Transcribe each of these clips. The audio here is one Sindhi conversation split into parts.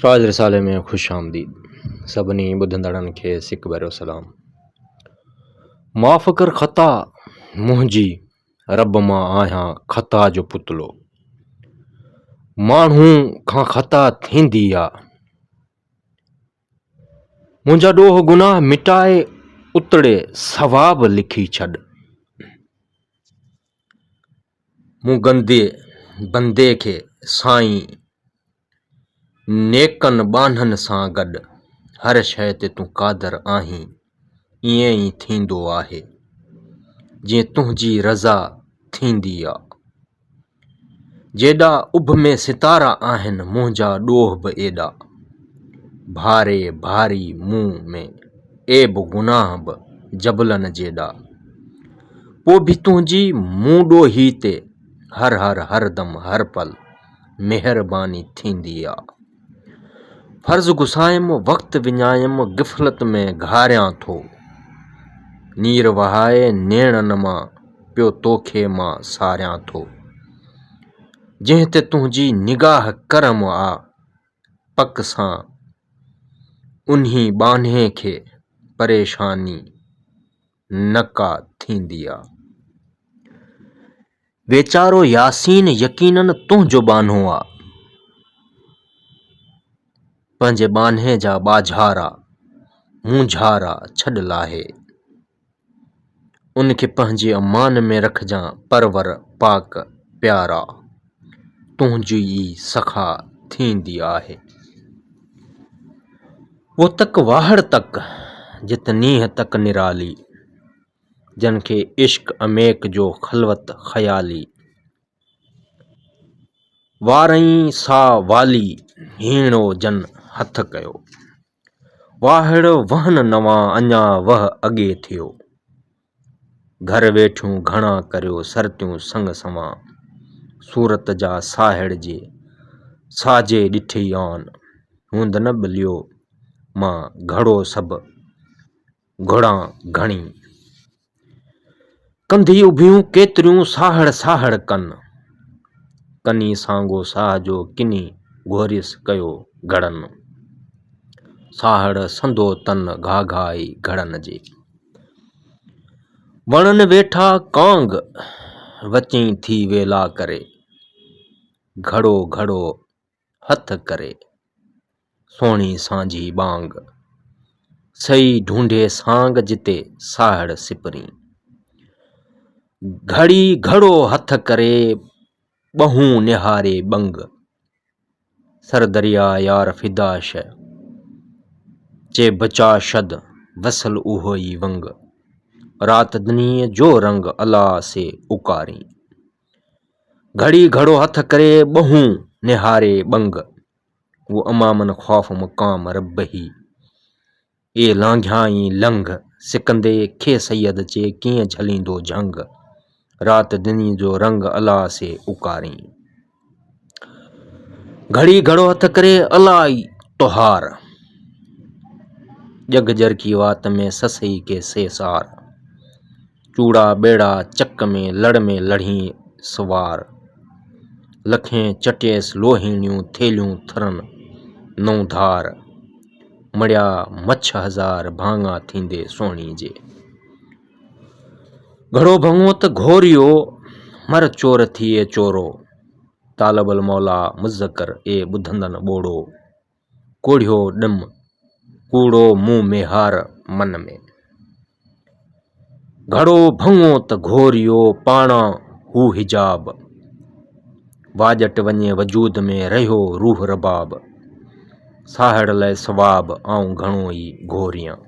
فائز رسالي ۾ خوش آمديد سڀني ٻڌندڙن کي سڪ ڀريو سلام معاف ڪر خطا منهنجي رب مان آهيان خطا جو پتلو ماڻهو کان خطا ٿيندي آ منهنجا ڏوهه گناهه مٽائي اتڙي ثواب لکي ڇڏ مون گندي بندي کي سائين نيڪن ٻانهن سان گڏ هر شيء تي تون قادر آهين ائين ئي ٿيندو آهي جيئن تنهنجي رضا ٿيندي آ جيڏا اڀ ۾ ستارا آهن منهنجا ڏوهه به ايڏا ڀاري ڀاري مون ۾ عيب گناهه به جبلن جيڏا پوء به تنهنجي مون ڏوهي تي هر هر هر دم هر پل مهرباني ٿيندي آ. فرض گسايم وقت وڃايم غفلت ۾ گهاريان ٿو. نير وهائي نيڻن مان پيو توکي مان ساريان ٿو. جنهن تي تنهنجي نگاهه ڪرم آ پڪ سان انهي ٻانهي کي پريشاني نه ڪا ٿيندي آ. ويچارو ياسين يقينن تنهنجو ٻانهو آ. پنهنجي ٻانهي جا ٻاجهارا، مونجهارا ڇڏ لاهي. ان کي پنهنجي امان ۾ رکجان پرور پاڪ پيارا. تنهنجي ئي سخا ٿيندي آهي. وو تڪ واهڙ تڪ، جت نينهن تڪ نرالي. جن کي عشق عميق جو خلوت خيالي. وارئين سا والي، هيڻو جن هٿ ڪيو. واهڙ وهن نوان اڃا وه اڳي ٿيو. گهر ويٺيون گهڻا ڪريو سرتيون سڱ سنوان. صورت جا ساهڙ جي ساجي ڏٺئي آن، هوند نه ٻليو مان گهڙو سڀ گهڙان گهڻي. ڪنڌي اڀيون ڪيتريون ساهڙ ساهڙ ڪن. ڪني سانگو ساهه جو ڪني گهوريس ڪيو گهڙن. ساهڙ سندو تن گهاگهائي گهڙن جي. وڻن ويٺا ڪانگ وچئين ٿي ويلا ڪري. گهڙو گهڙو هٿ ڪري، سهڻي سانجهي ٻانگ، سئي ڍونڍي سانگ جتي ساهڙ سپرين. گهڙي گهڙو هٿ ڪري، ٻهون نهاري ٻنگ، سر دريا يار فدا شه، چي بچا شد، وصل اهوئي ونگ، رات دنيء جو رنگ الا سي اڪارين. گهڙي گهڙو هٿ ڪري ٻهون نهاري ٻنگ، هو امامن خوف مقام ربهي، اي لانگهيائين لنگ، سڪندي کي سيد چي ڪيئن جهليندو جهنگ، رات دني جو رنگ الا سي اوڪارين. گهڙي گهڙو هٿ ڪري الا اي تهار، ڄڳ ڄرڪي وات ۾ سسئي کي سيسار. چوڙا ٻيڙا چڪ ۾ لڙ ۾ لڙهين سوار، لکين چٽيس لوهيڻيون ٿيلهيون ٿرن نئون ڌار، مڙيا مڇ هزار ڀاڱا ٿيندي سهڻي جي. گهڙو ڀڱو ته گهوريو، مر چور ٿيئي چورو، طالب الموليٰ مذڪر اي ٻڌندن ٻوڙو. ڪوڙهيو ڏم، ڪوڙو مون ميهار من ۾. گهڙو ڀڱو ته گهوريو پاڻان هو حجاب. واڄٽ وڃي وجود ۾ رهيو روح رباب. ساهڙ لئه ثواب آئون گهڻو ئي گهوريان.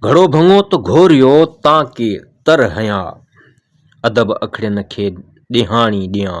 گهڙو ڀڱو ته گهوريو تان ڪي تر هنيا. ادب اکڙين کي ڏيهاڻي ڏيان.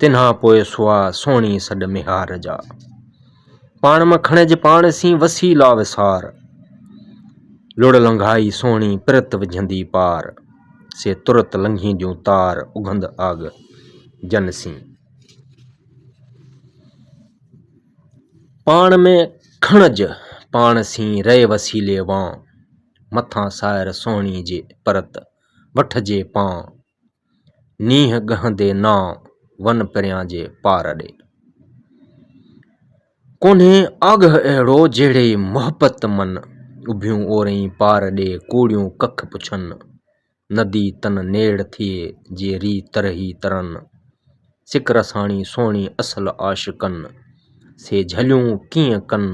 تنھان پوء سوا سهڻي سڏ ميھار جا. پاڻ مان کڻج پاڻ سين وسي لا وسار. لڙ لنگھائي سهڻي پرت وجھندي پار. سي ترت لنگھينديون تار اگھند آڳ جن سين. پاڻ ۾ کڻج پاڻ سين رئي وسيلي وان. مٿان سائر سهڻي جي پرت وٺجي پان. نينهن ڳهندي نانء ون پريان جي پار ڏي. ڪونهي آگهه اهڙو جهڙي محبت من. اڀيون اورئين پار ڏي ڪوڙيون ڪک پڇن. ندي تن نيڙ ٿئي جي ري ترهي ترن. سڪ رساڻي سهڻي اصل عاشقن. سي جهليون ڪيئن ڪن.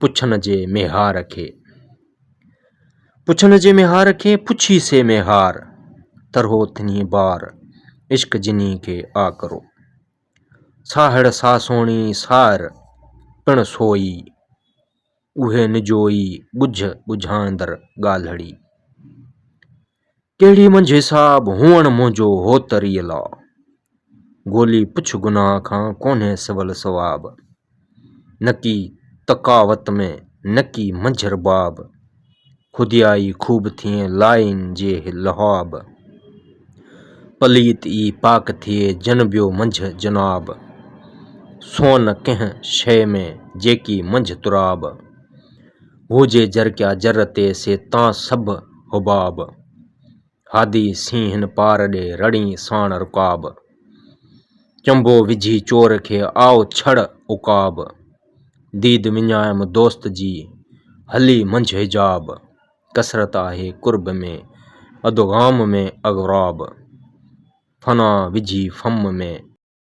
پڇڻ جي ميهار کي. پڇڻ جي ميهار کي، پڇي سي ميهار، ترهو ٿڃي بار، عشق جني کي آڪرو. ساهڙ سا سهڻي سائر، پڻ سوئي، اهي نجوئي، ڳجهه ڳجهاندڙ ڳالهڙي. ڪهڙي منجهه حساب هئڻ منهنجو هوتريء لا. گولي پڇ گناهه کان ڪونهي سول ثواب. نڪي تقاوت ۾ نڪي منجهه رباب. خوديائي خوب ٿئين لائين جي لهاب. پليت ئي پاڪ ٿئي جنبيو منجهه جناب. سون ڪنهن شيء ۾ جيڪي منجهه تراب. هوجي جر ڪيا جر تي سي تان سڀ حباب. هادي سين هن پار ڏي رڙين ساڻ رڪاب. چنبو وجهي چور کي آئو ڇڙ عقاب. ديد وڃايم دوست جي هلي منجهه حجاب. ڪثرت آهي قرب ۾ ادغام ۾ اغراب. فنا وجهي فم ۾.